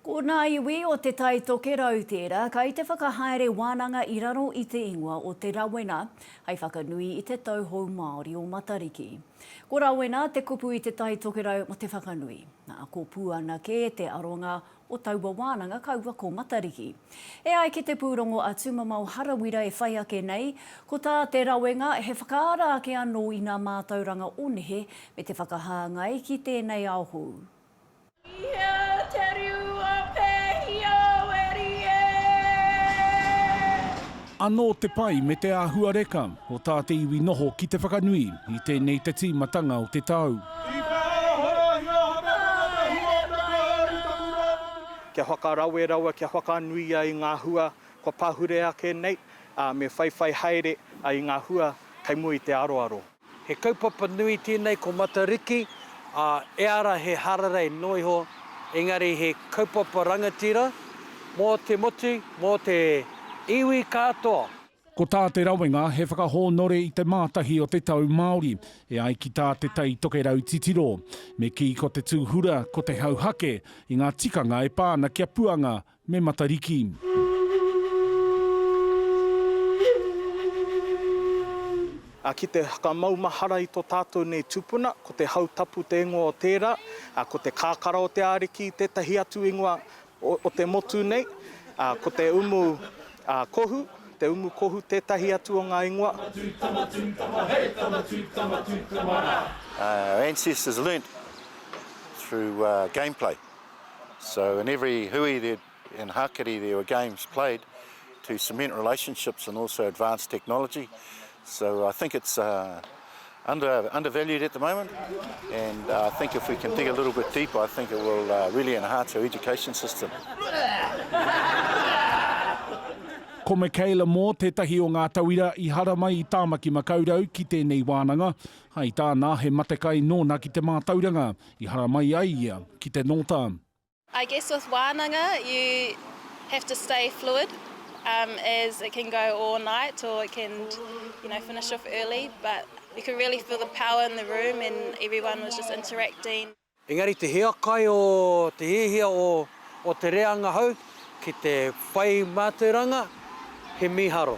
Ko ngā iwi o Te Tai Tokerau tērā kai te whakahaere wānanga i raro i te ingoa o Te Rawena hai whakanui i te tauhou Māori o Matariki. Ko Rawena te kupu i Te Tai Tokerau mo te whakanui. Nā, ko Puana kē te aronga o taua wānanga kaua ko Matariki. E ai ki te pūrongo a Tūmamao Harawira e whai ake nei, ko tā Te Rawenga he whakaara ake anō i ngā mātauranga o nehe me te whakahāngai ki tēnei ao hou. I hea te riu a Pēhia Weri e? Anō te pai me te āhuareka o tā te iwi noho ki te whakanui i tēnei te tīmatanga o te tau. I whāia hoahoatia hoki a Whakatahua o te Kāhui taku rā putu nei. Kia whakarawe rawa, kia whakanuia i ngā hua kua pahure ake nei, ā, me whaiwhai haere i ngā hua kei mua i te aroaro. He kaupapa nui tēnei ko Matariki, ā, eāra he hararei noa iho, engari he kaupapa rangatira mō te motu, mō te iwi katoa. Ko tā Te Rawenga, he whakahōnore i te mātahi o te tau Māori, e ai ki tā Te Tai Tokerau titiro, me kī ko te tūhura ko te hauhake i ngā tikanga e pā ana kia puanga Me Matariki. Ā, ki te whakamaumahara i tō tātou nei tūpuna, ko te hau tapu te ingoa o tērā, ā, ko te kakara o te Ariki tētahi atu ingoa o te motu nei, ā, ko te umu, ā, kohu, te umu kohu tētahi atu o ngā ingoa. Tama tū, tama tū, tama hei, tama tū, tama tū, tama rā. Our ancestors learnt through gameplay So in every hui and hakeri there were games played to cement relationships and also advance technology. So I think it's undervalued at the moment and I think if we can dig a little bit deeper I think it will really enhance our education system. Ko Michaela Moore tētahi o ngā tauira i haramai i Tāmaki Makaurau ki tēnei wānanga. Hai tāna, he matekai nōna ki te mātauranga. I haramai ai ia ki te nōta. I guess with wānanga you have to stay fluid as it can go all night or it can you know finish off early but you could really feel the power in the room and everyone was just interacting. Engari te hiakai o te hiahia o te reanga hou. Ki te whai mātauranga, he mīharo.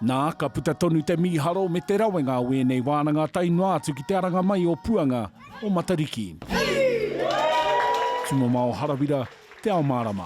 Nā, ka puta tonu te mīharo me te rawenga o ēnei wānanga tae noa atu ki te aranga mai o Puanga o Matariki. Tumomao Harawira, Te Ao Mārama.